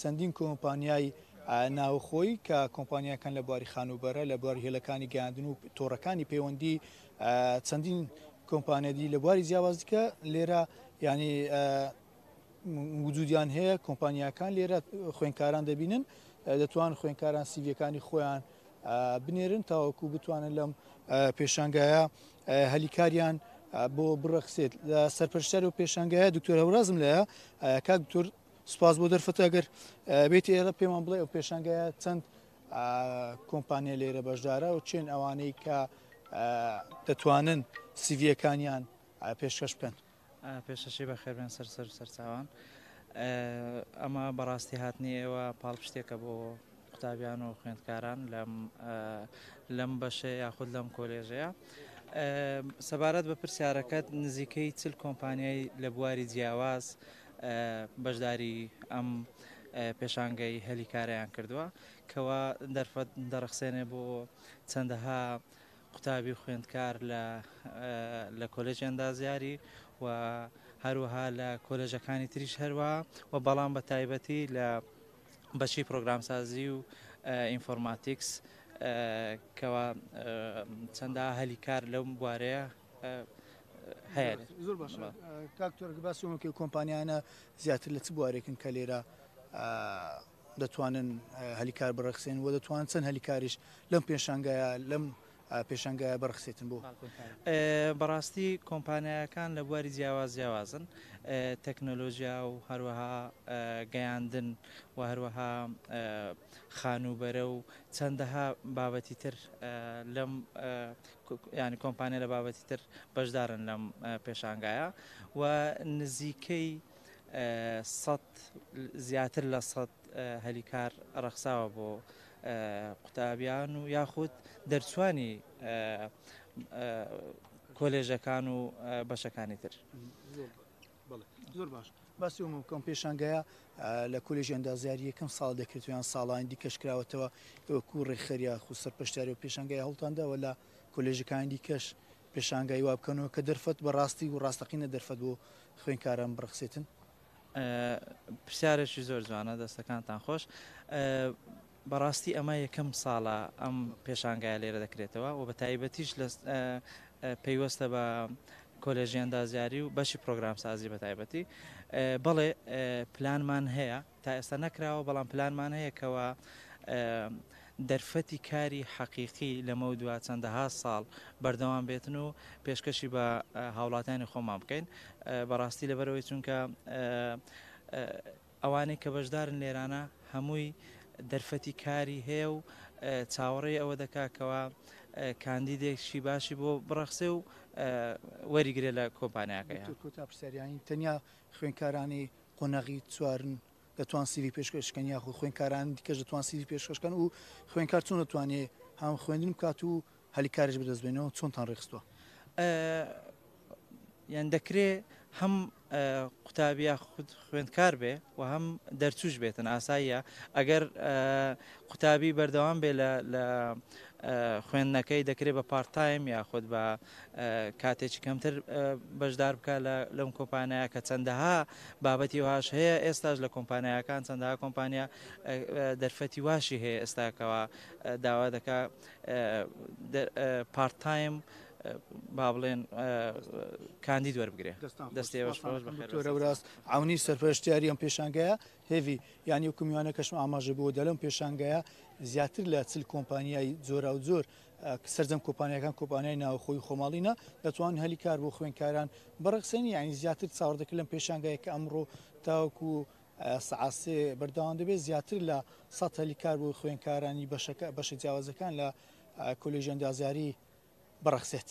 چەندین کۆمپانیای ناوخۆی کە کۆمپانیاکان لە بواری خانووبەرە، لە بواری هێلەکانی گەیاندن و تۆڕەکانی پەیوەندی چەندین کۆمپانیای دی لە بواری جیاواز دیکە لێرە یعنی وجودیان هەیە کۆمپانیاکان لێرە خوێنکاران دەبینن دەتوان خوێنکاران سیڤەکانی خۆیان بنێرن تاوەکو بتوانن لەم پێشانگایە هەلیکاریان بۆ بڕەخسێت لە سەرپەرشتار و پێشانگایە دکتۆر هەورازم لە کاک دکتۆر سپاس بۆ دەرفەتە ئەگەر بێتی ئێرە پێمان بڵێ ئەو پێشانگایە چەند کۆمپانیا لێرە بەشدارە و چێن ئەوانەی کە دەتوانن سیڤەکانیان پێشکەش بکەن پێشەشی بە خێربێن سەر سەر سەرچوان ئەمە بەڕاستی هاتنی ئێوە پاڵپشتێکە بۆ قوتابیان و خوێندکاران لەم لەم بەشەیە یاخود لەم کۆلێژەیە سەبارەت بە پرسیارەکەت نزیکەی چل کۆمپانیای لە بواری جیاواز بەشداری ئەم پێشانگەی هەلی کاریان کردووە کەوا دەرفەت دەڕخسێنێ بۆ چەندەها قوتابی خوێندکار لە لە کۆلێژ ئەندازیاری و هەروەها لە کۆلێژەکانی تریش هەروە و بەڵام بە تایبەتی لە بەشی پرۆگرامسازی و ئینفۆرماتیکس کەوا چەندا هەلی کار لەو بوارەیە هەیە زۆر باش کاکتۆر باسیۆنەکەی کۆمپانیانە زیاتر لە چ بوارێکن کە لێرە دەتوانن هەلیکار بڕەخسێن و دەتوان چەند هەلیکاریش لەم پێشانگایە لەم پێشەنگایە بڕەخسێتن بۆ بەڕاستی کۆمپانیایەکان لە بواری جیاواز جیاوازن تەکنۆلۆژیا و هەروەها گەیاندن و هەروەها خانووبەرە و چەندەها بابەتی تر لەم ینی کۆمپانیا لە بابەتی تر بەشدارن لەم پێشانگایە و نزیکەی زیاتر لە سەد هەلیکار ڕەخساوە بۆ قوتابیان و یاخود دەرچوانی کۆلێژەکان و بەشەکانی تر. زۆر باش باسی ئەومە بکەم پێشانگایە لە کۆلێژ ئەندازیاری یەکەم ساڵ دەکرێت یان ساڵانی دیکەش کراوەتەوە ئەوەکو ڕێکخەریا خو سەرپشتیاری و پێشانگای هەڵتانداوە لە کۆلێژەکانی دیکەش پێشانگای وا بکەنەوە کە دەرفەت بە ڕاستی و ڕاستەقینە دەرفەت بۆ خوێنکاران بڕخسێتن پرسیارێکی زۆر جوانە دەستەکانتان خۆش بەڕاستی ئەمە یەکەم ساڵە ئەم پێشانگای لێرە دەکرێتەوە و بە تایبەتیش لە پەیوەستە بە کۆلێژی ئەندازیاری و بەشی پرۆگرام سازی بە تایبەتی بەڵێ پلانمان هەیە تا ئێستا نەکراوە بەڵام پلانمان هەیە کەەوە دەرفەتی کاری حەقیقی لەمەودوا چەندەها ساڵ بەردەوام بێتن و پێشکەشی بە هاوڵاتیانی خۆمان بکەین بەڕاستی لەبەرەوەی چونکە ئەوانەی کە بەشدارن لێرانە هەمووی دەرفەتی کاری هەیە و چاوەڕێی ئەوە دەکاکەوە کاندیدێکشی باشی بۆ بڕەخسێ و وەریگرێ لە کۆمپانیاکەی کۆتا پرسیاریانی تەنیا خوێنکارانی قۆنەغی چوارن دەتوان سیڤی پێشکەش کەن یاخو خوێنکاران دیکەش دەتوان سیڤی پێشکەش کەن و خوێنکار چۆن دەتوانێت هەم خوێندن بکات و هەلی کارش بدەست بێنەوە چۆنتان ڕێخستووە یان دەکرێ هەم قوتابیا خود خوێندکار بێ و هەم دەرچوش بێتن ئاساییە ئەگەر قوتابی بەردەوام بێ لە خوێندنەکەی دەکرێت بە پارتایم یاخود بە کاتێکی کەمتر بەشدار بکە لەم کۆمپانیا کە چەندەها بابەتی واش هەیە ئێستاش لە کۆمپانیاکان چەندەها کۆمپانیا دەرفەتی واشی هەیە ئێستاکەەوە داوا دەکا پارت تایم با بڵێن کاندید وەربگرێ دەستێوەراست ئەونی سەرپەرشتیاری ئەم پێشانگەیە هێوی یانی وکمیوانە کەشم ئاماژە بۆ دەلم پێشانگەیە زیاتر لە چل کۆمپانیای جۆرا و زۆر سەرجەم کۆپانیاکان کۆپانیای ناوخۆی و خۆماڵینە دەتوان هەلی کار بۆ خوێنکاران بڕەخسێنی یعنی زیاتر چاوەڕدەکرد لەم پێشانگایە کە ئەمڕۆ تاوەکو سعاسێ بەردەوام دەبێت زیاتر لە سە هەلی کار بۆ خوێنکارانی بەشەکە بەشە جیاوازەکان لە کۆلیژەندازیاری بڕەخسێت.